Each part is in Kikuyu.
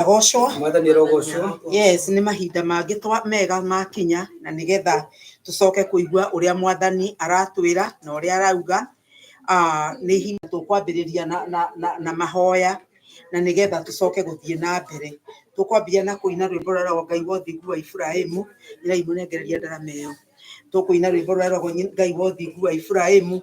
arogocwo mwathani arogocwo yes nĩ mahinda mangĩ twa mega makinya na nĩgetha tũcoke kũigua ũrĩa mwathani aratwĩra na ũrĩa arauga Ah, nĩ ihinda tũkwambĩrĩria na, na, na, na mahoya na nĩgetha tũcoke gũthiĩ na mbere tũkwambia na kũina rwĩmbo rwa rogo ngai wa ũthingu wa iburahĩmu ĩrai mũnengereria ndarama ĩyo tũkũina rwĩmbo rwa rogo nyi- ngai wa ũthingu wa iburahĩmu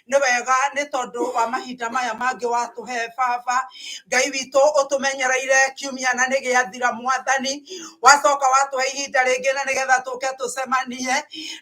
nĩ wega nĩ tondũ wa mahinda maya mangĩ watũhe baba ngai witũ ũtũmenyereire kiumia na nĩ gĩathira mwathani wacoka watũhe ihinda rĩngĩ na nĩgetha tũke tũcemanie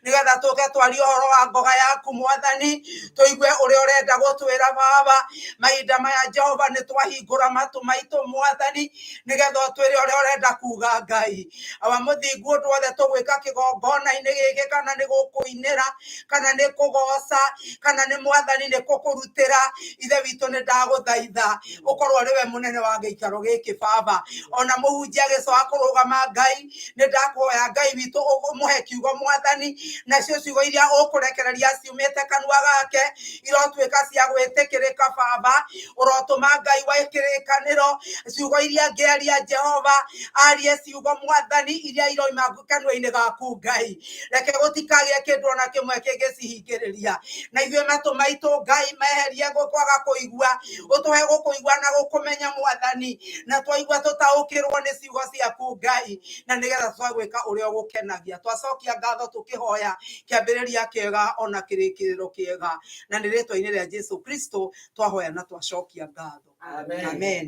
nĩgetha tũke twarie ũhoro wa ngoga yaku mwathani tũigue ũrĩa ũrenda gũtwĩra baba mahinda maya jehova nĩ twahingũra matũ maitũ mwathani nĩgetha ũtwĩre ũrĩa ũrenda kuga ngai wa mũthingu ũndũ wothe tũgwĩka kĩgongona-inĩ gĩkĩ kana nĩ gũkũinĩra kana nĩ kũgoca kana nĩ mwathani nĩ kũkũrutĩra ithe witũ nĩ ndagũthaitha ũkorwo ũrĩ we mũnene wa gĩikaro gĩkĩ baba ona mũhunjia agĩcoa kũrũgama ngai nĩ ndakuhoya ngai witũ ũmũhe kiugo mwathani nacio ciugo iria ũkũrekereria ũtũmĩte kanua gake irotuĩka cia gwĩtĩkĩrĩka baba ũrotũma ngai wa kĩrĩkanĩro ciugo iria ngĩaria jehova arie ciugo mwathani iria iroima kanua-inĩ gaku ngai reke gũtikagĩa kĩndũ ona kĩmwe kĩngĩcihingĩrĩria na ithuĩ matũ maitũ ngai meherie gũkwaga kũigua ũtũhe gũkũigua na gũkũmenya mwathani na twaigua tũtaũkĩrwo nĩ ciugo ciaku ngai na nĩgetha twagwĩka ũrĩa ũgũkenagia twacokia ngatho tũkĩhoya kĩambĩrĩria kĩega ona kĩrĩkĩrĩro kĩega na nĩ rĩtwa-inĩ rĩa jesu kristo twahoya na twacokia ngatho Amen. amen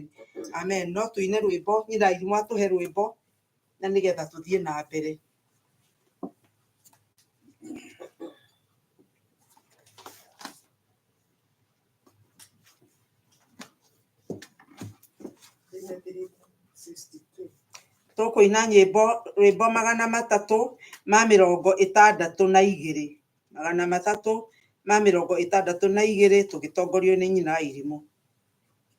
amen no tũine rwĩmbo nyinai mwatũhe rwĩmbo na nĩgetha tũthiĩ na mbere tũkũina nyĩmbo rwĩmbo magana matatũ ma mĩrongo ĩtandatũ na igĩrĩ magana matatũ ma mĩrongo ĩtandatũ na igĩrĩ tũgĩtongorio nĩ nyina irimũ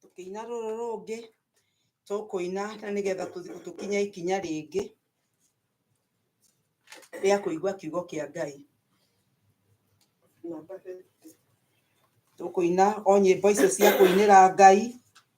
tũkĩina rũrũ rũngĩ tũkũina na nĩgetha tũ- tũkinye ikinya rĩngĩ rĩa kũigua kiugo kĩa ngai tũkũina o nyĩmbo icio cia kũinĩra ngai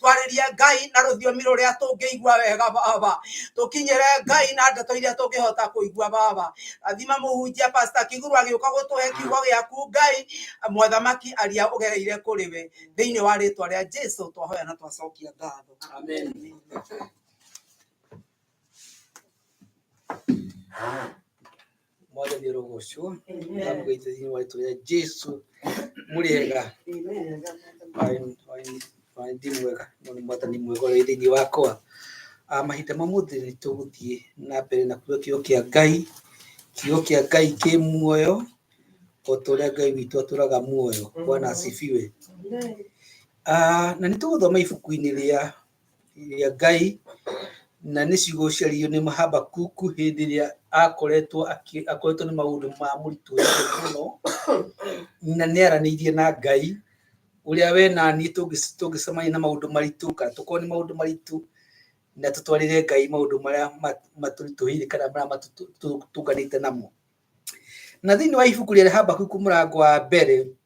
twarĩrie ngai na rũthiomi rũrĩa tũngĩigua wega baba tũkinyĩre ngai na ndeto iria tũngĩhota kũigua baba rathima mũhunjia pasta kiguru agĩũka gũtũhe kiugo gĩaku ngai mwathamaki aria ũgereire kũrĩ we thĩinĩ wa rĩtwa rĩa jesu twahoya na twacokia ngatho amen Mwaje biro gosho. Ntabwo itazini wali tuya Jesu muriega. Amen. Ndimwega none mwata ni mwego ridi ni wako. Amahita mamuthi ni tuguthie na mbere na kuyo kiyo kia Ngai. Kiyo kia Ngai ki muoyo. Otoria Ngai witũ atũraga muoyo. Bwana asifiwe. Ah, na nĩ tũgũthoma ibuku-inĩ rĩa rĩa Ngai na nĩ cigũcaririo nĩ Habakuku hĩndĩ ĩrĩa akoretwo akĩ- akoretwo nĩ maũndũ ma mũritũ mũno na nĩ aranĩirie na Ngai ũrĩa we na niĩ tũngĩ- tũngĩcemania na maũndũ maritũ kana tũkorwo nĩ maũndũ maritũ na tũtwarĩre Ngai maũndũ marĩa ma- matũritũhĩire kana marĩa matũtũ- tũtũnganĩte namo na thĩinĩ wa ibuku rĩa Habakuku mũrango wa mbere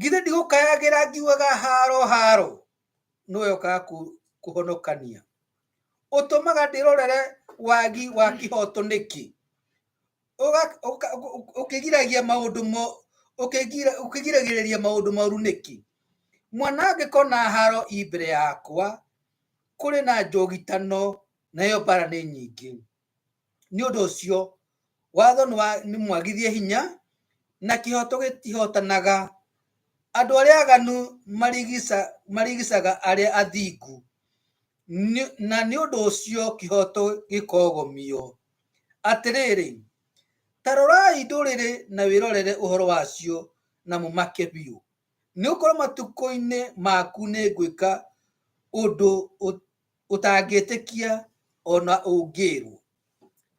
githĩ ndigũkayagĩra ngiugaga haro haro nĩwe ũkaga kũhonokania ũtũmaga ndĩrorere wagi wa kĩhoto nĩkĩ ũkĩgiragia maũndũ ũkĩgiragĩrĩria maũndũ moru nĩkĩ mwana angĩkorwo na haro i mbere yakwa kũrĩ na njogitano nayo mbara nĩ nyingĩ nĩ ũndũ ũcio watho nĩ mwagithie hinya na kĩhoto gĩtihotanaga. Andũ arĩa aganu marigicaga arĩa athingu, na nĩ ũndũ ũcio kĩhoto gĩkogomio. Atĩrĩrĩ, ta rorai ndũrĩrĩ na wĩrorere ũhoro wacio na mũmake biũ, nĩ gũkorwo matukũ-inĩ maku nĩ ngwĩka ũndũ ũtangĩtĩkia ona ũngĩrwo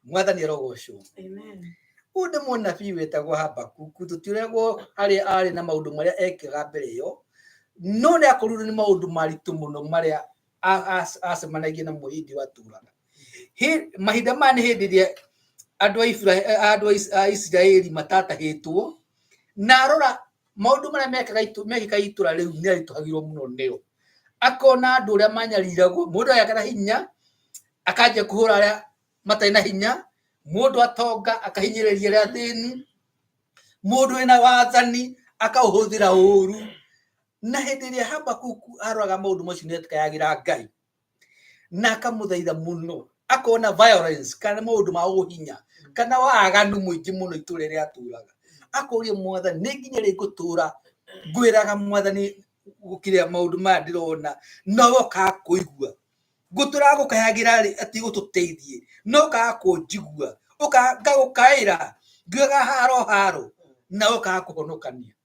mwathani arogocwo Amen. ũyũ nĩ mũnabii wĩtagwo habakuku tũtiregwo harĩa arĩ na maũndũ marĩa ekaga mbere ĩyo no nĩ akorirwo nĩ maũndũ maritũ mũno marĩa a- a- acemanagia namo hĩndĩ ĩyo atũraga Hĩ- mahinda maya nĩ hĩndĩ ĩrĩa andũ a Ibra- andũ a Is- a isiraeli matatahĩtwo na arora maundu maria mekaga itu mekaga itura riu ni arituhagirwo muno nio akona andu uria manyariragwo mundu aya kana hinya akanje kuhura aria matai na hinya mundu atonga akahinyiriria aria thini mundu ena wathani akauhuthira uru na hindi iria habakuku aroraga maundu macio ni atikayagira ngai na akamũthaitha mũno akona violence kana maũndũ ma ũhinya kana waganu mũingĩ mũno itũra rĩa atũraga akoria mwathani nĩ nginya rĩ ngũtũra ngwĩraga mwathani gũkĩrĩa maũndũ maya ndĩrona no wokaga kũigua ngũtũraga gũkayagĩra rĩ atĩ ũtũteithie no ũkaga kũnjigua ngagũkaĩra ngiugaga haro haro na wokaga kũhonokania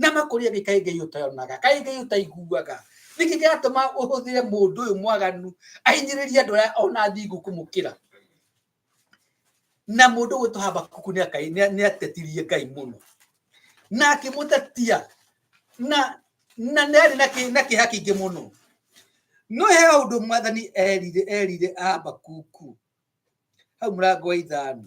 na makũria nĩ kaĩ ngai ũtayonaga kaĩ ngai ũtaiguaga nĩkĩ gĩatũma ũhũthĩre mũndũ ũyũ mwaganu ahinyĩrĩria andũ arĩa ona athingu kũmũkĩra na mũndũ ũyũ wĩtwa habakuku nĩ atetirie ngai mũno na akĩmũtetia na na nĩ arĩ na kĩha kĩingĩ mũno no he ũndũ mwathani erire erire habakuku hau mũrango wa ithano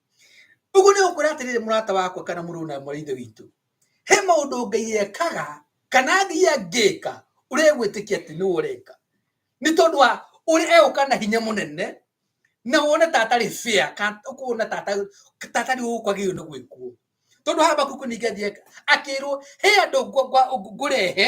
ũguo nĩ gũkũra atĩrĩrĩ mũrata wakwa kana mũrũ na mwarĩ ithe witũ he maũndũ ngai ekaga kana athiĩ angĩka ũrĩa egwĩtĩkia atĩ nĩwe ũreka nĩ tondũ wa ũrĩa egũka na hinya mũnene na wone ta atarĩ bĩa kana ũkuona ta atarĩ ta atarĩ ũũ kwagĩrĩirwo nĩ gwĩkwo tondũ habakuku ningĩ athiĩ akĩrwo he andũ ngwa- ngwa- ngũrehe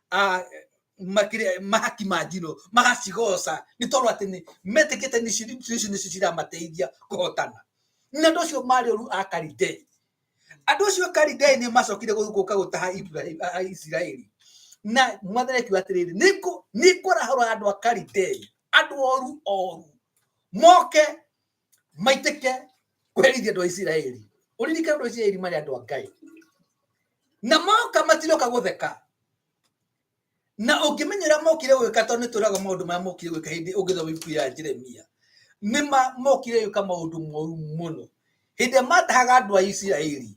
a makire mahaki ma njino magacigoca nĩ tondũ atĩ nĩ metĩkĩte nĩ ici nĩ ici nĩcio ciramateithia kũhotana na andũ acio marĩ ũru a karidei andũ acio a karidei nĩ macokire gũ- gũka gũtaha Ibrahim- a- a- isiraeli na mwathani akiuga atĩrĩrĩ "Nĩngũ- nĩngũrahũra andũ a karidei andũ oru oru moke maitĩke kũherithia andũ a isiraeli ũririkane andũ a isiraeli marĩ andũ a ngai na moka matiroka gũtheka na ũngĩmenya ũrĩa mokire gwĩka tondũ nĩ tũraga maũndũ marĩa mokire gwĩka hĩndĩ ũngĩthoma ibuku ya jeremia nĩ ma- mokire gwĩka maũndũ moru mũno hĩndĩ ĩrĩa matahaga andũ a isiraeli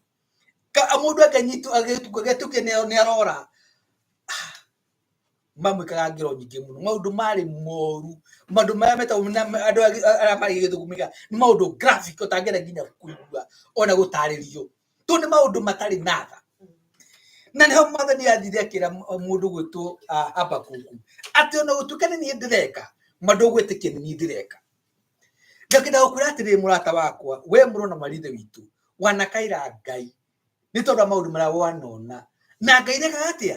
ka- mũndũ akanyitwo agĩtukwo agetũkia nĩ arora mamwĩkaga ngero nyingĩ mũno maũndũ marĩ moru maũndũ marĩa metagwo na- na- andũ agi- a- arĩa marĩ gĩthũgũmĩga nĩ maũndũ graphic ũtangĩenda nginya kũigua ona gũtarĩrio tondũ nĩ maũndũ matarĩ na tha na nĩho mwathani athire akĩra m- mũndũ gwĩtwo ah, habakuku atĩ ona gũtuĩka nĩ niĩ ndĩreka mandũ gwĩtĩkia nĩ niĩ ndĩreka ngakĩenda gũkwĩra atĩrĩ mũrata wakwa we mũrũ na marithe witũ wanakaira ngai nĩ tondũ wa maũndũ marĩa wanona na ngai ndekaga atĩa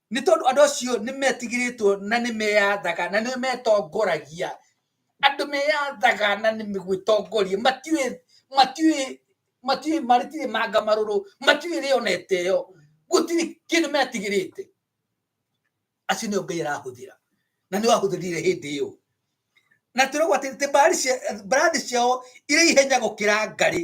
Nĩ tondũ andũ acio nĩ metigĩrĩtwo na nĩ meyathaga na nĩ metongoragia. Andũ meyathaga na nĩ gwĩtongoria matiũĩ matiũĩ matiũĩ matirĩ manga marũrũ matiũĩ rĩonete yo gũtirĩ kĩndũ metigĩrĩte. Acio nĩo Ngai arahũthĩra na nĩ wahũthĩrire hĩndĩ ĩyo na tũragwo atĩ mbarathi ciao irĩ ihenya gũkĩra ngarĩ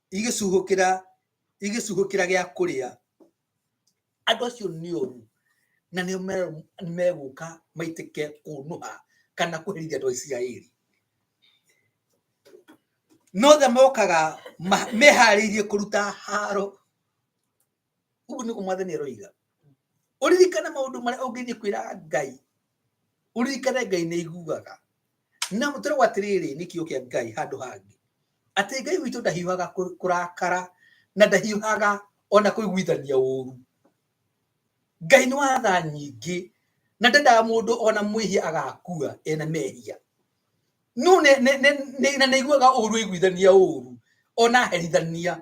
igĩcuhũkĩra igĩcuhũkĩra gĩa kũrĩa andũ acio nĩ oru na nĩo me- megũka maitĩke kũnũha kana kũherithia andũ a isiraeli nothe mokaga ma- meharĩirie kũruta haro uguo niguo mwathani aroiga uririkane maundu maria ungithii kwira ngai uririkane ngai ni iguaga na mutiragwo atiriri ni kiugo kia ngai handu hangi ati ngai witu ndahiuhaga kurakara na ndahiuhaga ona kuiguithania uru ngai ni wa tha nyingi na ndendaga mundu ona mwihia agakua ena mehia no na nä iguaga å ru iguithania å ru ona herithania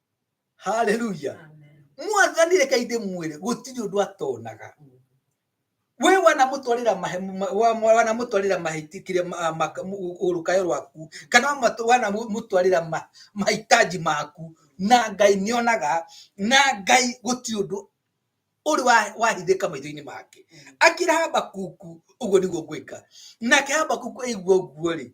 haleluya mwathani reke inde mwire gutiri undu atonaga we wanamutwarira mahe ma- wa- wa- wanamutwarira mahitikire urukayo rwaku kana wamatu- wanamutwarira ma- mahitaji maku na ngai nionaga na ngai gutiri undu uri wa- wahithika maitho-ini make akira habakuku uguo niguo ngwika nake habakuku aigua uguo ri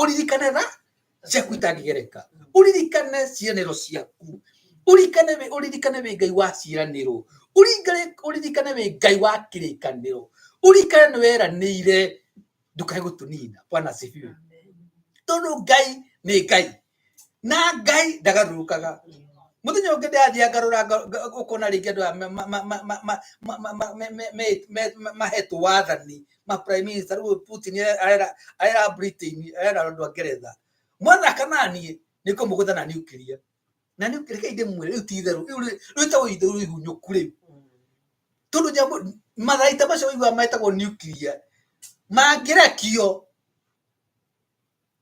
ũririkane tha ciaku itangĩgereka ũririkane ciĩranĩro ciaku ũririkane wĩ ũririkane wĩ ngai wa ciĩranĩro ũririkane wĩ ngai wa kĩrĩkanĩro ũririkane nĩ weranĩire ndũkae gũtũnina bwana sifiwe tondũ ngai nĩ ngai na ngai ndagarũrũkaga muthenya ungi ndathi ngarura ukona ringi andu mahetwo wathani ma prime minister riu putin arera arera britain arera andu a ngeretha mwana kana nie nikumugutha na nuclear na nuclear kai ndimwire riu ti itheru riu riu ta uyu riu ihunyuku riu tondu nyamu matharaita macio uigua metagwo nuclear mangirekio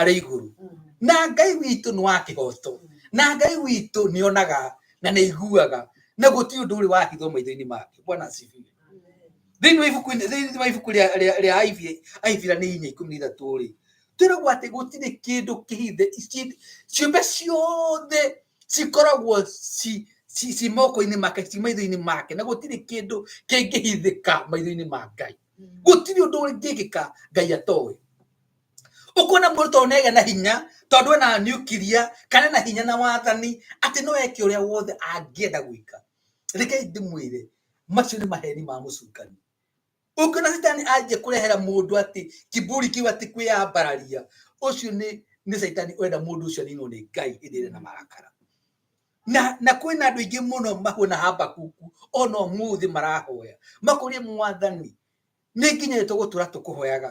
arĩ igũrũ na ngai witũ nĩ wa kĩhoto na ngai witũ nĩ onaga na nĩ aiguaga na gũtirĩ ũndũ ũrĩ wahithwo maitho-inĩ make bwana asifiwe thĩinĩ wa ibuku thĩinĩ wa ibuku rĩa- rĩa rĩa Aibi- aibirania inya ikũmi na ithatũ rĩ twĩragwo atĩ gũtirĩ kĩndũ kĩhithe ci- ciũmbe ciothe cikoragwo ci- ci- ci moko-inĩ make ci maitho-inĩ make na gũtirĩ kĩndũ kĩngĩhithĩka maitho-inĩ ma ngai gũtirĩ ũndũ ũngĩkĩka ngai atoĩ ũkuona mũndũ tondũ nĩagĩa na hinya tondũ ena nuclear kana na hinya na wathani atĩ no eke ũrĩa wothe angĩenda gwĩka rekei ndĩmwĩre macio nĩ maheni ma mũcukani ũngĩona citani anjia kũrehera mũndũ atĩ kiburi kiu atĩ kwĩyambararia ũcio nĩ nĩ caitani ũrenda mũndũ ũcio aninwo nĩ ngai hĩndĩ ĩrĩa na marakara na na kwĩ na andũ aingĩ mũno mahuana habakuku ona ũmũthĩ marahoya makũrie mwathani nĩ nginya tũgũtũra tũkũhoyaga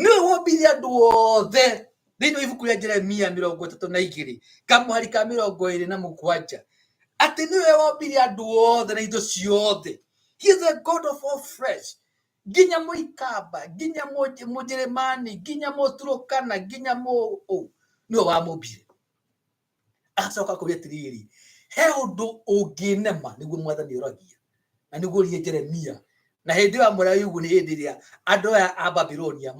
nĩwe wombire andũ othe thĩinĩ wa ibuku rĩa jeremia mĩrongo ĩtatũ na igĩrĩ kamũhari ka mĩrongo ĩrĩ na mũgwanja atĩ nĩwe wombire andũ othe na indo ciothe he is the god of all flesh nginya mũikamba nginya Mũj- mũjeremani nginya mũturũkana nginya mũũ nĩwe wamũmbire agacoka kũrĩa tiriri he ũndũ ũngĩnema nĩguo mwathani ũragia na nĩguo rie jeremia na hĩndĩ ĩyo amwĩra yugu nĩ hĩndĩ ĩrĩa andũ aya a babilonia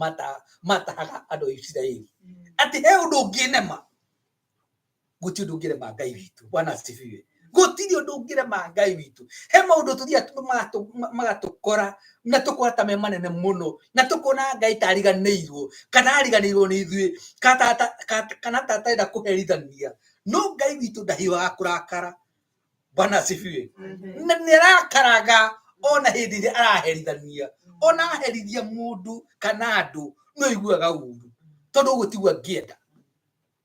matahaga andũ a isiraeli mm. atĩ he ũndũ ũngĩnema gũtirĩ ũndũ ũngĩrema ngai witũ bwana asifiwe gũtirĩ ũndũ ũngĩrema ngai witũ he maũndũ tũthiaga tu- matũ- ma- magatũkora na tũkona ta me manene mũno na tũkona ngai ta ariganĩirwo kana ariganĩirwo nĩ ithuĩ ka- ta- ta- ka- kana ta atarenda kũherithania no ngai witũ ndahiũhaga kũrakara bwana asifiwe na nĩ arakaraga ona hĩndĩ ĩrĩa araherithania ona aherithia mũndũ kana andũ nĩ ũiguaga ũru tondũ ũguo tiguo angĩenda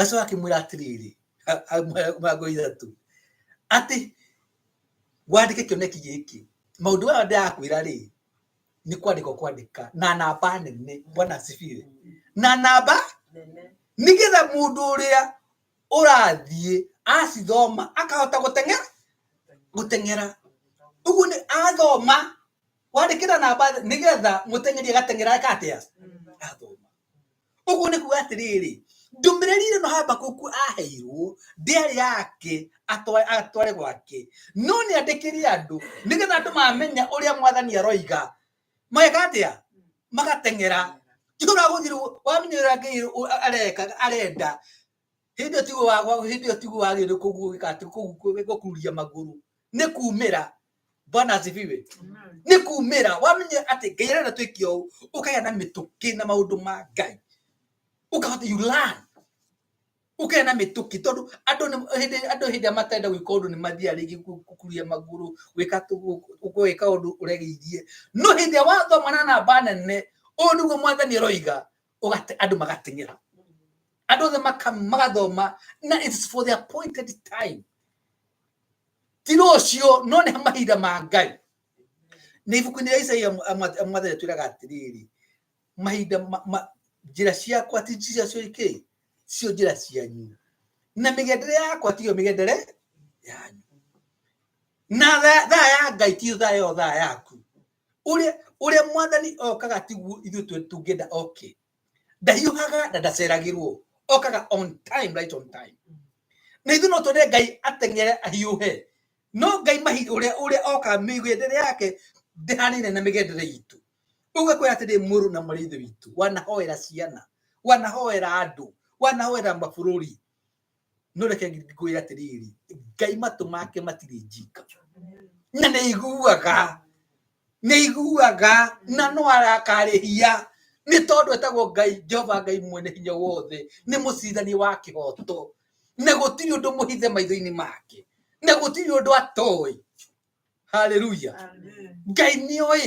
acoka akĩmwĩra atĩrĩrĩ mĩrongo ithatũ atĩ wandĩke kĩoneki gĩkĩ maũndũ maya ndĩrakwĩra rĩ nĩ kwandĩka kwandĩka na namba nene bwana asifiwe na namba nĩgetha mũndũ ũrĩa ũrathiĩ acithoma akahota gũteng'era gũteng'era ũguo nĩ athoma wandĩkĩra namba nĩgetha mũteng'eri agateng'era eka atĩa athoma ũguo nĩ kuga atĩrĩrĩ ndũmĩrĩri ĩrĩa no habakuku aheirwo ndĩarĩ yake atwa- atware gwake no nĩ andĩkĩre andũ nĩgetha andũ mamenya ũrĩa mwathani aroiga mageka atĩa magateng'era titũragũthirwo wamenyerera ngai ũ- areka arenda hĩndĩ ĩyo tiguo wa- wa- hĩndĩ ĩyo tiguo wagĩrĩire kũguũgĩka atĩ kũ- kũ- gũkururia magũrũ nĩ kumĩra bwana asifiwe nĩ kumĩra wamenye atĩ ngai arenda twĩke ũũ ũkagĩa na mĩtũkĩ na maũndũ ma ngai ũkahota you learn ũkagĩa na mĩtũkĩ tondũ andũ nĩ- hĩndĩ andũ hĩndĩ ĩrĩa matenda gwĩka ũndũ nĩ mathiaga rĩngĩ kũ- kũkuria magũrũ gwĩka tũ- gwĩka ũndũ ũregĩirie no hĩndĩ ĩrĩa wathoma na namba nene ũũ nĩguo mwathani aroiga ũgate- andũ magateng'era andũ othe maka- magathoma na it's for the appointed time ti rũciũ no nĩ mahinda ma ngai nĩ ibuku-inĩ rĩa isaia mwathani twĩraga atĩrĩrĩ mahinda ma- ma- njĩra ciakwa ti njĩra cio ikĩ cio njĩra cianyu na mĩgendere yakwa tiyo mĩgendere yanyu na tha- thaa ya ngai tiyo thaa yo thaa yaku Ũrĩa ũrĩa mwathani okaga tiguo ithuĩ tũ- tũngĩenda oke. Ndahiũhaga na ndaceragĩrwo. Okaga on time, right on time. Na ithuĩ no twende Ngai ateng'ere ahiũhe. No Ngai mahi ũrĩa ũrĩa okaga mĩgendere yake ndĩhanaine na mĩgendere itũ. Ũgakwĩra atĩrĩ mũrũ na mũrĩ ithe witũ wanahoera ciana, wanahoera andũ, wanahoera mabũrũri. no reke ngwĩre atĩrĩrĩ ngai matũ make matirĩ njika na nĩ iguaga nĩ iguaga na no arakarĩhia nĩ tondũ etagwo ngai jehova ngai mwene hinya wothe nĩ mũcirithania wa kĩhoto na gũtirĩ ũndũ mũhithe maitho-inĩ make na gũtirĩ ũndũ atoĩ haleluya ngai nĩ oĩ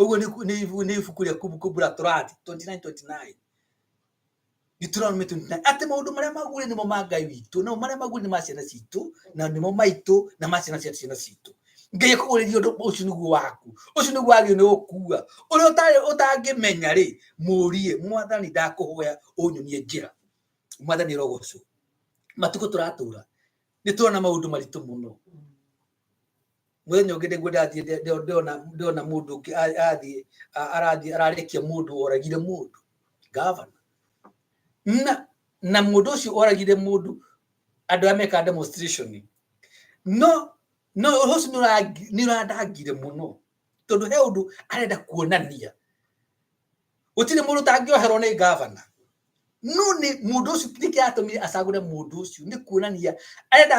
ũguo nĩ ibuku rĩa kumbukumbu la torati 29:29 Deuteronomy 29 atĩ maũndũ marĩa magũrĩ nĩmo ma ngai witũ namo marĩa magũrĩ nĩ ma ciana citũ na nĩmo maitũ na ma ciana cia ciana citũ ngai akũgũrĩria ũndũ ũcio nĩguo waku ũcio nĩguo wagĩrĩirwo nĩ gũkua ũrĩa ũtarĩ ũtangĩmenya rĩ mũrie mwathani ndakũhoya ũnyonie njĩra mwathani rogocwo matukũ tũratũra nĩ tũrona maũndũ maritũ mũno mũthenya ũngĩ nĩguo ndathiĩ nde- nde- ndona ndona mũndũ ũngĩ a- athiĩ a- arathiĩ ararekia mũndũ woragire mũndũ gavana na na mũndũ ũcio woragire mũndũ andũ arĩa mekaga demonstration no no ũhoro ũcio nĩũrangi- nĩũrandangire mũno tondũ he ũndũ arenda kuonania gũtirĩ mũndũ ũtangĩoherwo nĩ gavana no nĩ mũndũ ũcio nĩkĩratũmire acagũre mũndũ ũcio nĩ kuonania arenda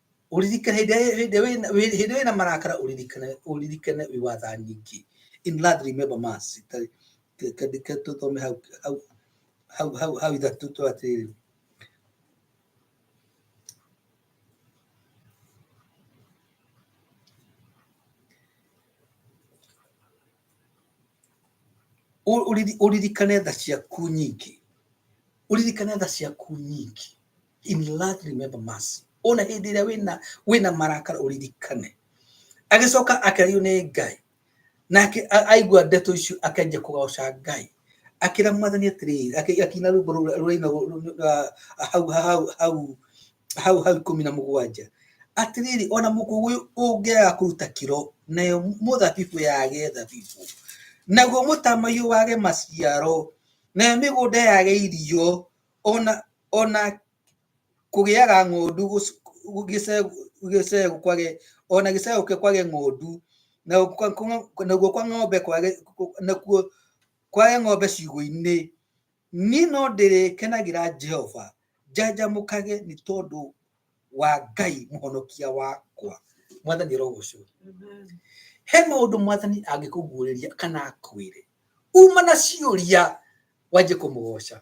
Ũririkane hĩndĩ ĩrĩa- hĩndĩ ĩrĩa wĩna- hĩndĩ ĩrĩa wĩna marakara ũririkane ũririkane wĩ wa tha nyingĩ in love remember mercy Ta- ke- ke- ke- tũthome hau hau hau hau hau ithatũ tũ atĩrĩrĩ Ũ- ũriri- ũririkane tha ciaku nyingĩ ũririkane tha ciaku nyingĩ in love remember mercy ona hĩndĩ ĩrĩa wĩna wĩna marakara ũririkane agĩcoka akĩrĩo nĩ ngai nake a- aigua ndeto icio akanjia kũgoca ngai akĩra mwathani atĩrĩrĩ akĩ- akĩina rwĩmbo rũrĩa- rũraina rũ- rũ- rũ- ah, hau hau hau hau hau ikũmi na mũgwanja atĩrĩrĩ ona mũkũyũ ũngĩaga kũruta kĩro nayo mũthabibũ yage thabibũ naguo mũtamaiyũ wage maciaro nayo mĩgũnda yage irio ona ona kũgĩaga ng'ondu gũc- gũ- gĩcegũ gĩcegũ kwage ona gĩcegũ kĩ- kwage ng'ondu na kwa- kwa- naguo kwa ng'ombe kwage kũ- nakuo kwage ng'ombe ciugũ-inĩ niĩ no ndĩrĩkenagĩra jehova njanjamũkage nĩ tondũ wa ngai mũhonokia wakwa mwathani arogocwo he maũndũ mwathani angĩkũguũrĩria kana akwĩre uma na ciũria wanjie kũmũgoca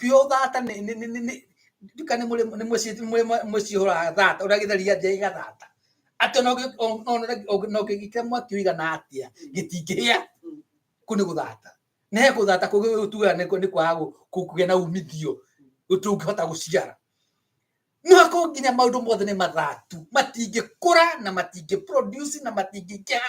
kĩo thata nĩ nĩ nĩ nĩ nduka nĩ mũrĩ nĩ mũciĩ mũrĩ mũciĩ hora thata ũrĩa gĩtheria nje igathata atĩ no gĩ- no gĩgĩkĩra mwaki ũigana atĩa gĩtingĩhĩa kũ nĩ gũthata nĩ he gũthata kũgĩtuaga nĩ nĩ kwaga gũ- kũ- kũgĩa na umithio ũtũngĩhota gũciara no akorwo nginya maũndũ mothe nĩ mathatu matingĩkũra na matingĩ produce na matingĩkĩha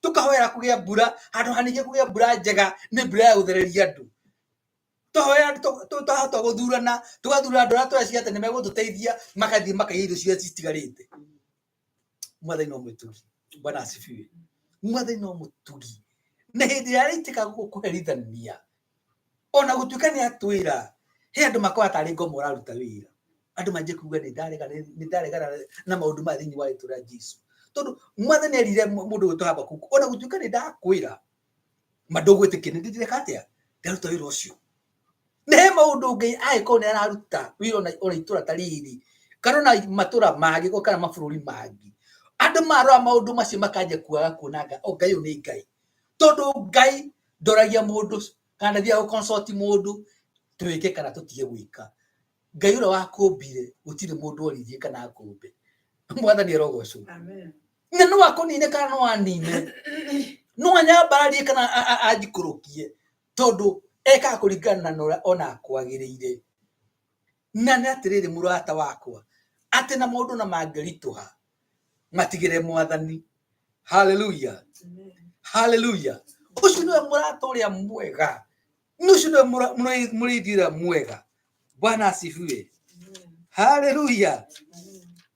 tukahoera kugia mbura handu hanige kugia mbura njega ni mbura ya guthereria andu tuhoya twahota guthurana tugathura andu aria tweciria ati ni megututeithia makathii makaiya irio ciria citigarite mwathani no mwituri bwana asifiwe mwathani no muturi na hindi iria aritikaga gukuherithania ona gũtuĩka nĩ atwĩra he andũ makoragwo tarĩ ngoma ũraruta wĩra andũ manjie kuga nĩ ndarega nĩ ndaregana na maũndũ maya thĩinĩ wa rĩtwa rĩa jesu tondũ mwathani nĩ erire mũ- mũndũ gwĩtwo habakuku ona gũtuĩka nĩ ndakwĩra ma ndũgwĩtĩkia nĩ ndĩreka atĩa ndaruta wĩra ũcio na he maũndũ ngai angĩkorwo nĩ araruta wĩra ona ona itũra ta rĩrĩ kana ona matũra mangĩ o kana mabũrũri mangĩ andũ marora maũndũ macio makanjia kuaga kuonanga o ngai ũyũ nĩ ngai tondu ngai ndoragia mundu kana ndathiaga gå consult mundu twä kä kana tå tige gwä ka ngai å rä a wakåmbire gå tirä må ndå orithie kana akåmbe mwathani arogocwo Amen. na no akũnine kana no anine no anyambararie kana a- a- anjikũrũkie tondũ ekaga kũringana na ũrĩa ona kwagĩrĩire Na nĩ atĩrĩrĩ, mũrata wakwa, atĩ na maũndũ na mangĩritũha, matigĩre mwathani. Haleluya, haleluya! Ũcio nĩwe mũrata ũrĩa mwega, ũcio nĩwe mũra- mũrĩ- mũrĩithi ũrĩa mwega. Bwana asifiwe. Haleluya!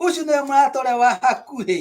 Ũcio nĩwe mũrata ũrĩa wa hakuhĩ.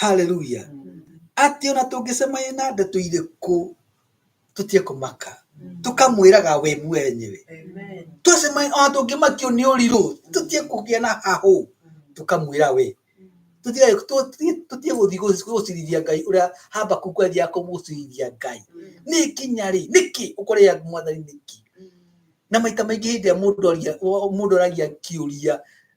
haleluya atĩ ona tũngĩcemania na ndeto irĩkũ tũtige kũmaka tũkamwĩraga we mwenyewe twacemania ona tũngĩmakio nĩ ũrirũ tũtige kũgĩa na hahũ tũkamwĩra we tũtige tũ- tũ- tũtige gũthiĩ gũ- gũcirithia ngai ũrĩa habakuku athiaga kũmũcirithia ngai nĩ kinya rĩ nĩkĩ ũkorĩa mwathani nĩkĩ na maita maingĩ hĩndĩ ĩrĩa mũndũ aria- o- mũndũ aragia kĩũria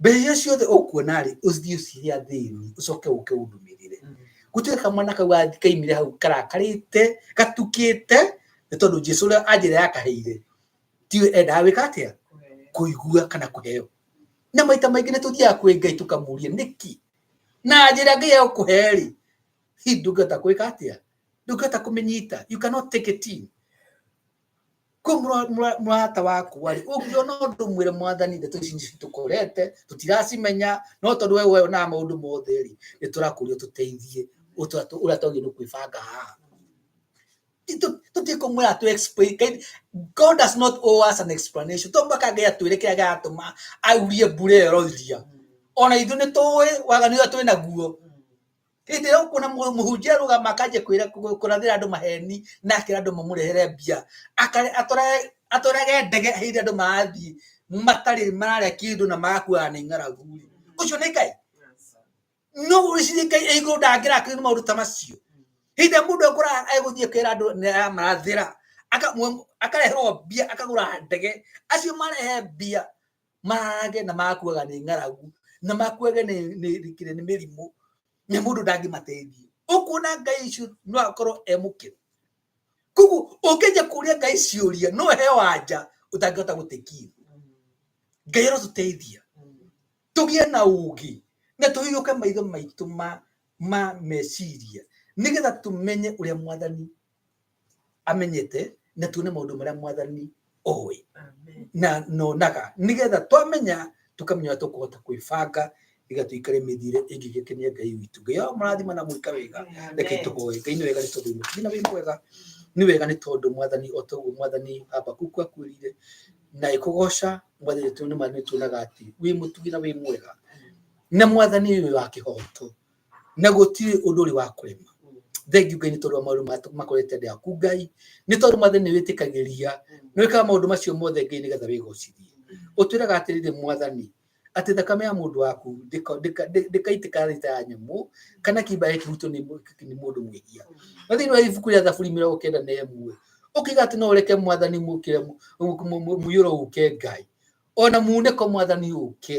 mbere iria ciothe ũkuona rĩ ũthiĩ ũcirie athĩni ũcoke ũke ũndũmĩrĩre Mm. gũtirĩ kamwana kau gathi- kaimire hau karakarĩte gatukĩte nĩ tondũ jesu ũrĩa anjĩra yakaheire tiwe endaga wĩka atĩa kũigua kana kũheo na maita maingĩ nĩ tũthiaga kwĩ ngai tũkamũria nĩki na njĩra ngai ya gũkũhe rĩ hihi ndũngĩhota kwĩka atĩa ndũngĩhota kũmĩnyita you cannot take it in ko mũra- mũra- mũrata wakwa-rĩ ũngĩona ũndũ mwĩre mwathani ndeto ici nĩ citũkorete tũtiracimenya no tondũ we wonaga maũndũ mothe-rĩ nĩ tũrakũria ũtũteithie ũtũ- tũ- ũrĩa twagĩrĩirwo kwĩbanga haha Tũ- tũtige kũmwĩra atũ explain Kaĩ- god does not owe us an explanation to mpaka ngai atwĩre kĩrĩa gĩatũma aurie mbura ĩyo ĩroiria ona ithuĩ nĩ tũĩ waganu ũrĩa twĩ naguo hĩndĩ ĩyo ũkuona mũ- mũhunjia arũgama akanjia kwĩra- kũ- kũrathĩra andũ maheni na akĩra andũ mamũrehere mbia Akare- atware- atwarage ndege hĩndĩ andũ marathiĩ matarĩ mararĩa kĩndũ na magakuaga nĩ ng'aragu rĩ ũcio nĩ ngai no ũrĩcirie ngai ĩ igũrũ ndangĩrakĩrĩ nĩ maũndũ ta macio hĩndĩ mũndũ ekora egũthiĩ kwĩra andũ nĩaramarathĩra akareherwo mbia akagũra ndege acio marehe mbia mage na makuaga nĩ ng'aragu na makuage nĩkire nĩ mĩrimũ na mũndũ ndangĩmateithia ũkuona ngai icio no akorwo e mũkĩru koguo ũngĩnja kũria ngai ciũria no he wanja ũtangĩhota gũtekia ngai arotũteithia tũgĩe na ũgĩ na tũhĩgũke maitho maitũ ma ma meciria nĩgetha tũmenye ũrĩa mwathani amenyete na tuone maundu maria mwathani owe Amen. na nonaga nigetha twamenya tukamenya ũrĩa tũkũhota kwĩbanga nĩgetha tũikare mĩthiĩre ĩngĩgĩkenia ngai witũ ngai ao marathima na mwĩka wega reke Amen. tũhoe ngai nĩ wega nĩ tondũ wĩ na wĩ mwega nĩ wega nĩ tondũ mwathani o toguo mwathani habakuku akwĩrire na ĩkũgoca mwathani tondũ nĩ ma nĩ tuonaga atĩ wĩ mũtugi na wĩ mwega na mwathani ũyũ wa kĩhoto na gũtirĩ ũndũ ũrĩ wa kũrema thengiũ ngai nĩ tondũ wa maũndũ matũ- makorete andũ aku ngai nĩ tondũ mathe nĩ wĩtĩkagĩria nĩ wĩkaga maũndũ macio mothe ngai nĩgetha wĩgocithie ũtwĩraga atĩrĩrĩ mwathani atĩ thakame ya mũndũ waku ndĩka- ndĩka- ndĩ- ndĩkaitĩka rita ya nyamũ kana kĩimba gĩkĩ kĩhutio nĩ mũ- nĩ mũndũ mwĩhia na thĩinĩ wa ibuku rĩa thaburi mĩrongo kenda na ĩmwe ũkiuga atĩ no ũreke mwathani mũkĩre mũiyũro ũke ngai ona munĩko mwathani ũke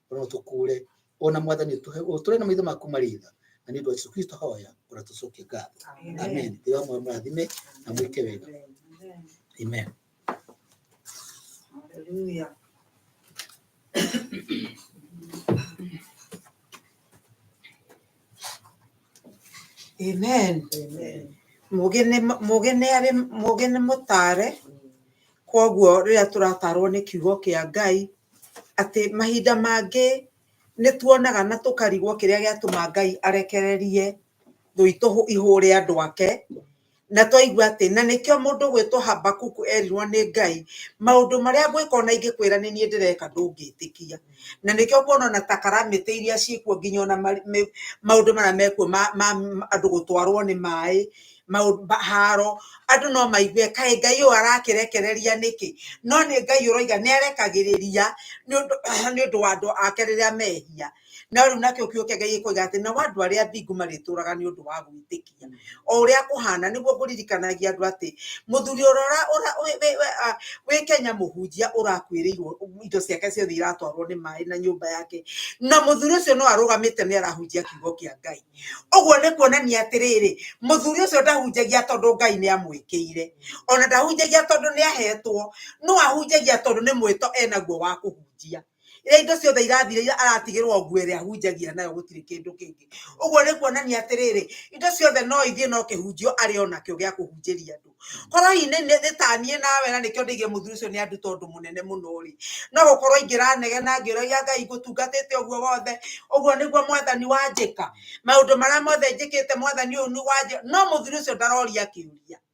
ona tukure ona mwathani utore na maitho maku maritha na ni ndu Yesu Kristo hoya ona tucokie ngatho amen ndi wa mwa mrathime na mwike wega amen Hallelujah. Amen. Amen. Mũgĩ nĩ mũgĩ nĩ arĩ mũgĩ nĩ mũtare kwoguo rĩrĩa tũratarwo nĩ kiugo kĩa Ngai atĩ mahinda mangĩ nĩ tuonaga na tũkarigwo kĩrĩa gĩatũma Ngai arekererie thũ itũ ihũre andũ ake na twaigua atĩ na nĩkĩo mũndũ gwĩtwo habakuku erirwo nĩ ngai maũndũ marĩa ngwĩka ona ingĩkwĩra nĩ niĩ ndĩreka ndũngĩtĩkia na nĩkĩo kuona ona ta karamĩtĩ iria ciĩkuo nginya ona maũndũ marĩa mekuo ma andũ gũtwarwo nĩ maĩ haro andũ no maigue kaĩ ngai ũyũ arakĩrekereria nĩkĩ no nĩ ngai ũroiga nĩ arekagĩrĩria nĩ ũndũ wa andũ ake rĩrĩa mehia. no rĩu nakĩo kĩo kĩngĩ gĩkoiga atĩ nao andũ arĩa athingu marĩtũũraga nĩ ũndũ wa gwĩtĩkia o ũrĩa kũhana nĩguo kũririkanagia andũ atĩ mũthuri ũrĩa ũra- ũra- wĩ- wĩ- wĩ- ah, wĩ kenya mũhunjia ũrakuĩrĩirwo indo ciake ciothe iratwarwo nĩ maĩ na nyũmba yake na mũthuri ũcio no arũgamĩte nĩ arahunjia kiugo kĩa ngai ũguo nĩ kuonania atĩrĩrĩ mũthuri ũcio ndahunjagia tondũ ngai nĩ amwĩkĩire ona ndahunjagia tondũ nĩ ahetwo no ahunjagia tondũ nĩ mwĩto enaguo wa kũhunjia iria indo ciothe irathira iria aratigĩrwo nguo ĩrĩa ahunjagia nayo gũtirĩ kĩndũ kĩngĩ ũguo nĩ kuonania atĩrĩrĩ indo ciothe no ithiĩ no kĩhunjio arĩ o nakĩo gĩa kũhunjĩria andũ korwo hihi nĩtaniĩ nawe na nĩkĩo ndĩgie mũthuri ũcio nĩ anduta ũndũ mũnene mũno rĩ no gũkorwo ingĩranegena ngĩũragia ngai ngũtungatĩte ũguo wothe ũguo nĩguo mwathani wanjĩka maũndũ marĩa mothe njĩkĩte mwathani ũyũ nĩ wanjĩka no mũthuri ũcio ndaroria kĩũria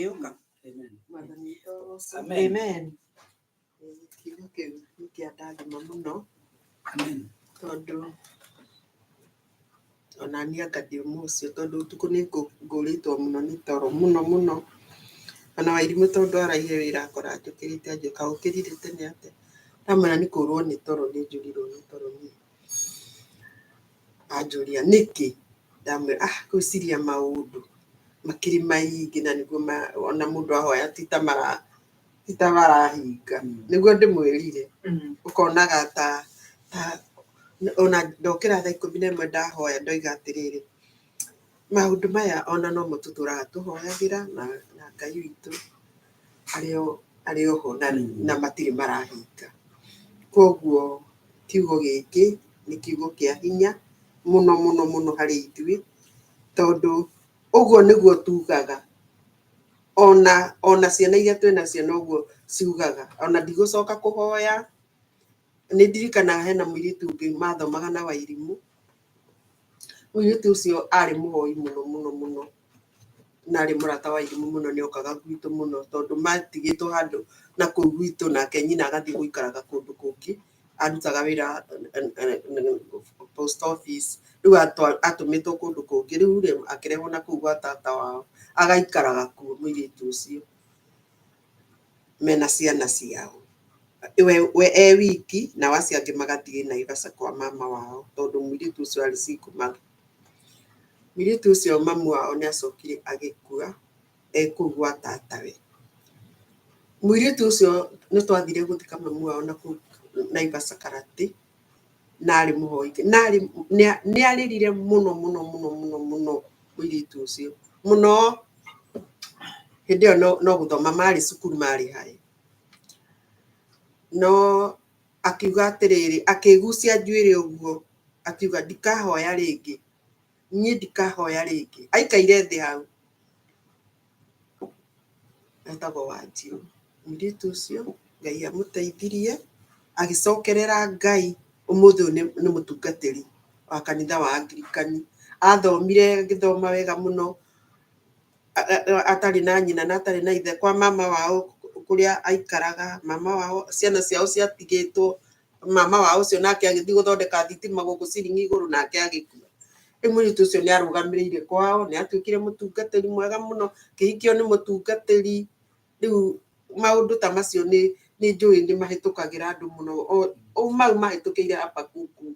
Ĩũka. Mwathani witũ Yesu. Amen. Amen. Eh, Kiugo kĩu nĩ kĩa ndathima mũno Amen. tondũ ona niĩ anga ndĩ ũmwe ũcio tondũ ũtukũ nĩ ngũ- ngũrĩtwo mũno nĩ toro mũno mũno ona wairimũ tondũ araire wĩra akora njũkĩrĩte anjũka ũkĩrire tene atĩa ndamwĩra nĩ kũrwo nĩ toro nĩ njũrirwo nĩ toro niĩ Anjũria nĩkĩ, ndamwĩra ah gwĩciria maũndũ makĩrĩ maingĩ na nĩguo ona mũndũ ahoya titamarahinga nĩguo ndĩmwĩrire ũkonaga ta ona ndokĩra thaa ikũmi na ĩmwe ndahoya ndoiga atĩrĩrĩ. Maũndũ maya ona nomo tũtũraga tũhoyagĩra na na Ngai witũ arĩ o arĩ oho na na matirĩ marahinga. Koguo kiugo gĩkĩ nĩ kiugo kĩa hinya mũno mũno mũno harĩ ithuĩ, tondũ ũguo nĩguo tugaga, ona ona ciana iria twĩnacio noguo ciugaga, ona ndigũcoka kũhoya. nĩ ndirikanaga hena mũirĩtu ũngĩ mathomaga na wairimũ mũirĩtu ũcio arĩ mũhoi mũno mũno mũno na arĩ mũrata wa irimũ mũno nĩ okaga gwitũ mũno tondũ matigĩtwo handũ na kũu gwitũ nake nyina agathiĩ gũikaraga kũndũ kũngĩ arutaga wĩra eh, eh, eh, post office rĩu atwa- atũmĩtwo kũndũ kũngĩ rĩu rĩ akĩrehwo na kũu gwa tata wao agaikaraga kuo mũirĩtu ũcio mena ciana ciao we, we e wiki na acio angĩ magathiĩ Naivasha kwa mama wao tondũ mũirĩtu ũcio arĩ single mother. Mũirĩtu ũcio mamu wao nĩ acokire agĩkua ekũu gwa tatawe. Mũirĩtu ũcio nĩ twathire gũthika mamu wao na kũu Naivasha Karati. na arĩ mũhoi Ngai. na arĩ nĩa- nĩarĩrire mũno mũno mũno mũno mũno mũirĩtu ũcio mũno hĩndĩ ĩyo no- no gũthoma marĩ cukuru marĩ haĩ no akiuga atĩrĩrĩ akĩgucia njuĩrĩ ũguo akiuga ndikahoya rĩngĩ niĩ ndikahoya rĩngĩ aikaire thĩ hau etagwo Wanjirũ. Mũirĩtu ũcio Ngai amũteithirie agĩcokerera Ngai, ũmũthĩ ũyũ nĩ mũtungatĩri wa kanitha wa Angirikani. Athomire agĩthoma wega mũno atarĩ na nyina na atarĩ na ithe kwa mama wao kũrĩa aikaraga, mama wao ciana ciao ciatigĩtwo mama wa ucio nake agithii guthondeka thitima guku ciringi iguru nake agikua riu muritu ucio ni arugamirire kwao ni atuikire mutungatiri mwega muno kihikio ni mutungatiri riu maundu ta macio ni ni njui ni mahitukagira andu muno o mau mahitukire habakuku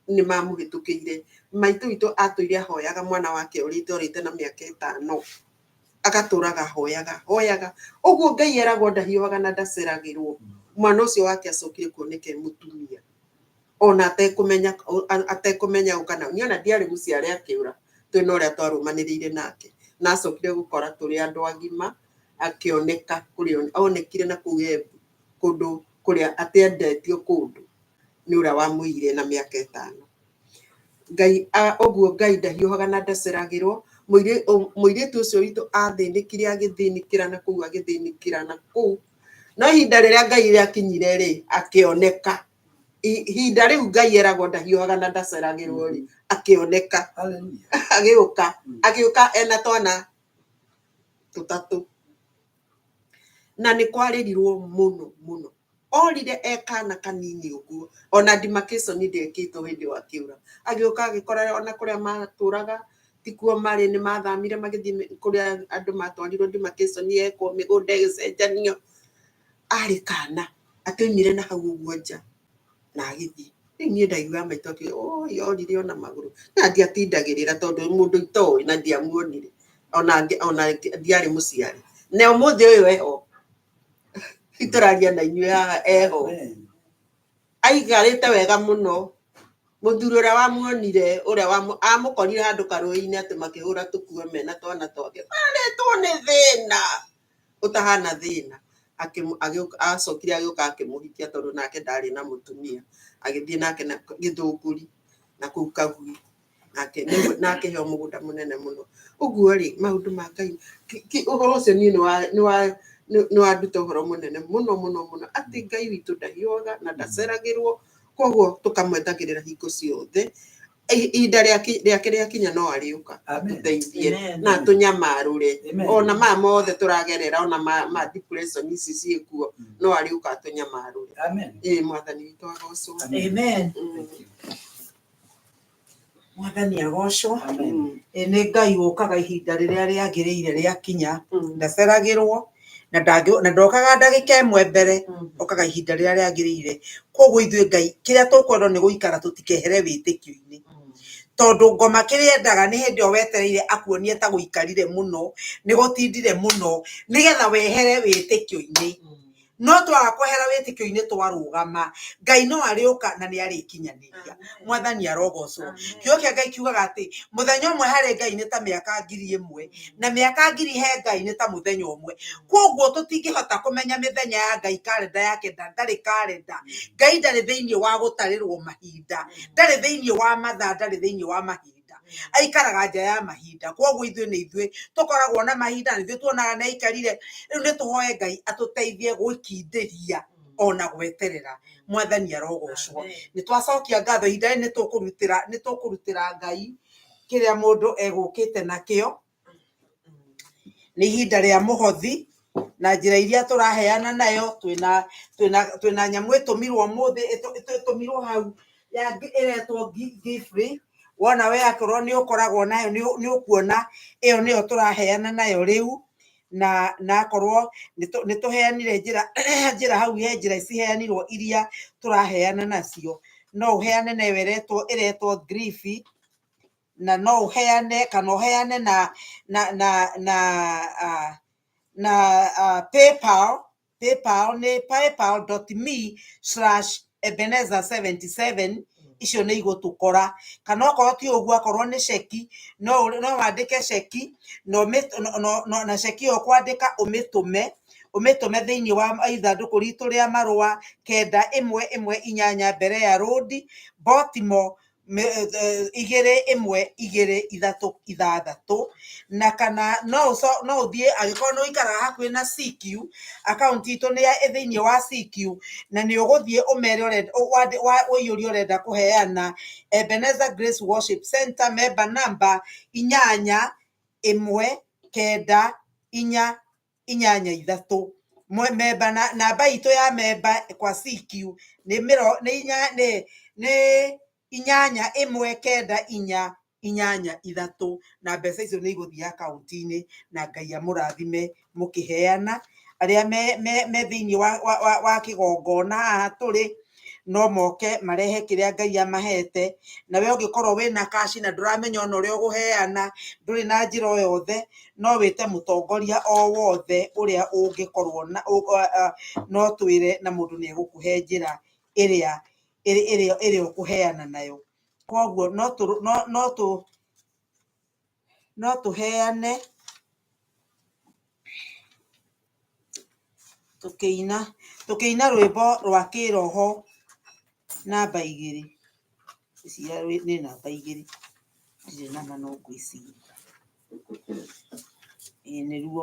ni mamuhitukire maitu witu atuire ahoyaga mwana wake urite urite na miaka itano agatũraga hoyaga hoyaga ũguo ngai eragwo ndahiũhaga na ndaceragĩrwo mwana ũcio wake acokire kuoneke mũtumia ona atekũmenya atekũmenya ũkana niĩ ona ndiarĩ gũciare akĩũra twĩ na ũrĩa twarũmanĩrĩire nake na acokire gũkora tũrĩ andũ agima akĩoneka kũrĩa onekire na kũu Embu kũndũ kũrĩa atĩ endetio kũndũ nĩ ũrĩa wamũire na mĩaka ĩtano Ngai a ũguo Ngai ndahiũhaga na ndaceragĩrwo mũirĩtu ũcio witũ athĩnĩkire agĩthĩnĩkĩra na kũu agĩthĩnĩkĩra na kũu no ihinda rĩrĩa Ngai rĩakinyire rĩ akĩoneka ihinda rĩu Ngai eragwo ndahiũhaga na ndaceragĩrwo rĩ akĩoneka agĩũka agĩũka ena twana tũtatũ na nĩ kwarĩrirwo mũno mũno Orire e kaana kanini ũguo. O na demarcation ndekĩtwo hĩndĩ ĩyo akĩũra. Agĩũka agĩkora o na kũrĩa matũũraga ti kuo marĩ, nĩ mathamire magĩthiĩ kũrĩa andũ matwarirwo demarcation yekwo, mĩgũnda ĩgĩcenjanio. Arĩ kaana, atũimire na hau ũguo nja na agĩthiĩ. Rĩu niĩ ndaiguaga maitũ akiuga, ũũi orire o na magũrũ. Na ndiatindagĩrĩra tondũ mũndũ itoĩ na ndiamuonire, o na ndiarĩ mũciare. Na ũmũthĩ ũyũ e ho. itũraria na inyuĩ haha eho aikarĩte wega mũno mũthuri ũrĩa wamuonire ũrĩa amũkorire handũ karũĩ-inĩ atĩ makĩhũra tũkuo mena twana twake twarĩtwo nĩ thĩna ũtahana thĩna acokire agĩũka akĩmũhikia tondũ nake ndarĩ na mũtumia agĩthiĩ nake gĩthũngũri na kũu kagui. nake nĩ- nake heo mũgũnda mũnene mũno ũguo rĩ maũndũ ma ngai ki- ki- ũhoro ũcio niĩ nĩwa- nĩwa- nĩ- nĩwanduta ũhoro mũnene mũno mũno mũno atĩ ngai witũ ndahiũaga na ndaceragĩrwo koguo tũkamwetagĩrĩra hingo ciothe I- ihinda rĩake rĩake rĩakinya no arĩũka Amen. atũteithie Amen. na tũnyamarũre Amen. ona maya mothe tũragerera ona ma- ma depression ici ciĩkuo Mm. no arĩũka atũnyamarũre Amen. ĩĩ mwathani witũ agocwo Amen. Amen. Mm. Thank you. mwathani agocwo Amen. Ĩ, nĩ ngai ũkaga ihinda rĩrĩa rĩagĩrĩire rĩakinya Mm. ndaceragĩrwo na ndangĩ- na ndokaga ndagĩka ĩmwe mbere Mm. okaga ihinda rĩrĩa rĩagĩrĩire koguo ithuĩ ngai kĩrĩa tũkwendwo nĩ gũikara tũtikehere wĩtĩkio-inĩ Mm. tondũ ngoma kĩrĩa endaga nĩ hĩndĩ ĩyo wetereire akuonie ta gũikarire mũno nĩ gũtindire mũno nĩgetha wehere wĩtĩkio-inĩ Mm. No twaga kwehera wĩtĩkio-inĩ twarũgama, Ngai no arĩũka na nĩ arĩkinyanĩria. Mwathani arogocwo. Kiugo kĩa Ngai kiugaga atĩ, mũthenya ũmwe harĩ Ngai nĩ ta mĩaka ngiri ĩmwe, na mĩaka ngiri he Ngai nĩ ta mũthenya ũmwe. Kwoguo tũtingĩhota kũmenya mĩthenya ya Ngai, karenda yake ndarĩ karenda. Ngai ndarĩ thĩiniĩ wa gũtarĩrwo mahinda, ndarĩ thĩiniĩ wa mathaa, ndarĩ thĩiniĩ wa mahinda. mahinda aikaraga nja ya mahinda koguo ithuĩ nĩ ithuĩ tũkoragwo na mahinda nĩ ithuĩ tuonaga nĩ aikarire rĩu nĩ tũhoe ngai atũteithie gwĩkindĩria ona gweterera mwathani arogocwo nĩ twacokia ngatho ihinda rĩrĩ nĩ tũkũrutĩra nĩ tũkũrutĩra ngai kĩrĩa mũndũ egũkĩte nakĩo nĩ ihinda rĩa mũhothi na njĩra iria tũraheana nayo twĩna twĩna twĩna nyamũ ĩtũmirwo ũmũthĩ ĩtũ- ĩtũ- ĩtũmirwo hau ya ngi- ĩretwo gi- gifrey wona we akorwo nĩ ũkoragwo nayo nĩ ũ- nĩ ũkuona ĩyo nĩyo tũraheana nayo rĩu na na akorwo nĩtũ- nĩtũheanire njĩra njĩra hau he njĩra ciheanirwo iria tũraheana nacio no ũheane nayo ĩretwo ĩretwo griffy na no ũheane kana ũheane na na na na uh, na uh, paypal paypal nĩ paypal.me slash ebenezer 77 icio nĩ igũtũkora kana okorwo ti ũguo akorwo nĩ ceki no ũrĩ- no wandĩke ceki na ũmĩ- no- no- no- na ceki ĩyo kwandĩka ũmĩtũme ũmĩtũme thĩinĩ wa ithandũkũ ritũ rĩa marũa kenda ĩmwe ĩmwe inyanya mbere ya rũndi botimo igĩrĩ ĩmwe igĩrĩ ithatũ ithathatũ na kana no ũthiĩ angĩkorwo nĩ ũikara hakuhĩ na CQ akaunti itũ nĩ thĩinĩ wa CQ na nĩ ũgũthiĩ ũmere ũiyũrie ũrenda kũheana Ebenezer Grace Worship Centre member number inyanya ĩmwe kenda inya. inyanya ithatũ, memba na namba itũ ya memba kwa CQ nĩ mĩro nĩ inya nĩ nĩ inyanya ĩmwe kenda inya inyanya ithatũ, na mbeca icio nĩ igũthiĩ akaunti-inĩ, na Ngai amũrathime mũkĩheyana, arĩa me me me thĩinĩ wa wa wa kĩgongona haha tũrĩ. no moke marehe kĩrĩa ngai amahete na we ũngĩkorwo wĩna kaci na ndũramenya ona ũrĩa ũgũheana ndũrĩ na njĩra o yothe no wĩte mũtongoria o wothe ũrĩa ũngĩkorwo na ũ- a- a- no twĩre na mũndũ nĩ egũkũhe njĩra ĩrĩa ĩrĩ- ĩrĩa ĩrĩa ũkũheana nayo koguo no tũ- no- no tũ- no tũheane tũkĩina tũkĩina rwĩmbo rwa kĩroho namba igĩrĩ ngwĩciria rwĩ- nĩ namba igĩrĩ ndirĩ nama no ngwĩciria ĩĩ nĩruo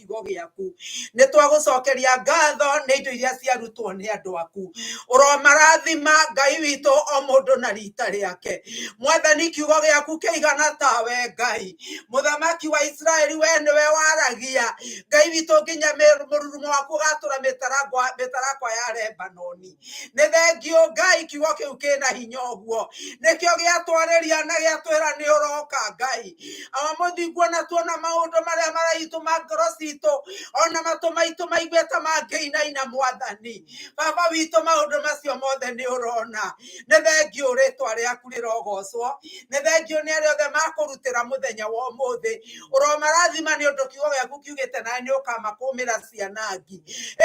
kiugo gĩaku nĩ twagũcokeria ngatho nĩ indo iria ciarutwo nĩ andũ aku ũromarathima ngai witũ o mũndũ na rita rĩake mwathani kiugo gĩaku kĩigana tawe ngai mũthamaki wa isiraeli we nĩwe waragia ngai witũ nginya mũrurumo waku ũgatũra mĩtarakwa ya lebanoni nĩ thengiũ ngai kiugo kĩu kĩna hinya ũguo nĩkĩo gĩatwarĩria na gĩatwĩra nĩ ũroka ngai awa mũthinguo na tuona maũndũ marĩa maraitũ ma ngoro citũ ona matũ maitũ maigue ta mangĩinaina mwathani baba witũ maũndũ macio mothe nĩ ũrona nĩ thengiũ rĩtwa rĩaku rĩrogocwo nĩ thengiũ nĩ arĩa othe makũrutĩra mũthenya wa ũmũthĩ ũromarathima nĩ ũndũ kiugo gĩaku kiugĩte nawe nĩ ũkamakũmĩra cianangi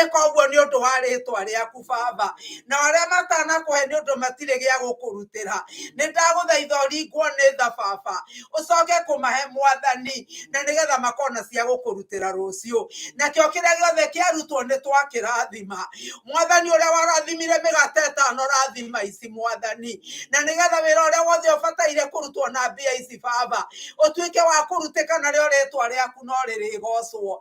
ĩka ũguo nĩ ũndũ wa rĩtwa rĩaku baba na arĩa matanakũhe nĩ ũndũ matirĩ gĩa gũkũrutĩra nĩ ndagũthaitha ũringwo nĩ tha baba ũcoke kũmahe mwathani na nĩgetha makona cia gũkũrutĩra rũciũ nakĩo kĩrĩa gĩothe kĩarutwo nĩ twakĩrathima mwathani ũrĩa warathimire mĩgate ĩtano rathima ici mwathani na nĩgetha wĩra ũrĩa wothe ũbataire kũrutwo na mbia ici baba ũtuĩke wa kũrutĩka narĩo rĩtwa rĩaku no rĩrĩgocwo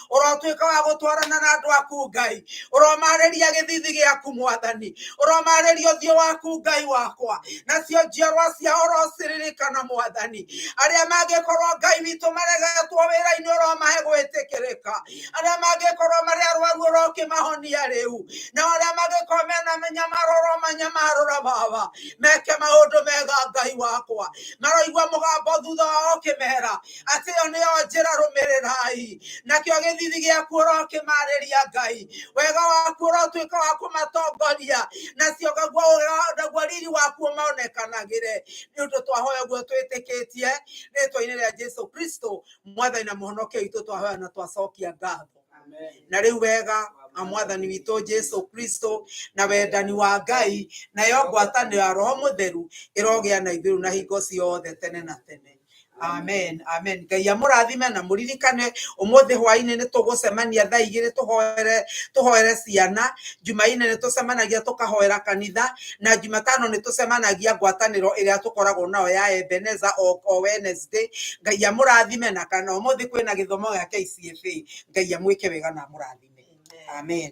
ũrotuĩka wa gũtwarana na andũ aku ngai ũromarĩria gĩthithi gĩaku mwathani ũromarĩria ũthiũ waku ngai wakwa nacio njiarwa cia ũrociririkana mwathani arĩa mangĩkorwo ngai witũ maregetwo wĩra-inĩ ũromahe gwĩtĩkĩrĩka arĩa mangĩkorwo marĩ arwaru ũrokĩmahonia rĩu na arĩa mangĩkorwo mena mĩnyamaro ũromanyamarũra baba meke maũndũ mega ngai wakwa maroigua mũgambo thutha wao ũkĩmera atĩ ĩyo nĩyo njĩra rũmĩrĩrai nakĩo gĩthithi gĩaku ũrokĩmarĩria ngai wega waku ũrotuĩka wa kũmatongoria nacio naguo riri waku ũmonekanagĩre nĩ ũndũ twahoya guo twĩtĩkĩtie rĩtwa-inĩ rĩa jesu kristo mwathani na mũhonokia witũ twahoya na twacokia ngatho na rĩu wega na mwathani witũ jesu kristo na wendani wa ngai nayo ngwatanĩro ya roho mũtheru ĩrogĩa na ithuĩ na hingo ciothe tene na tene Amen, amen. Ngai amũrathime na mũririkane ũmũthĩ hwaĩ-inĩ nĩ tũgũcemania thaa igĩrĩ tũhoere tũhoere ciana jumaine nĩ tũcemanagia tũkahoera kanitha na jumatano nĩ tũcemanagia ngwatanĩro ĩrĩa tũkoragwo nayo ya ebeneza o, o wednesday ngai amũrathime na kana ũmũthĩ kwĩna gĩthomo gĩa kcfa ngai amwĩke wega na amũrathime amen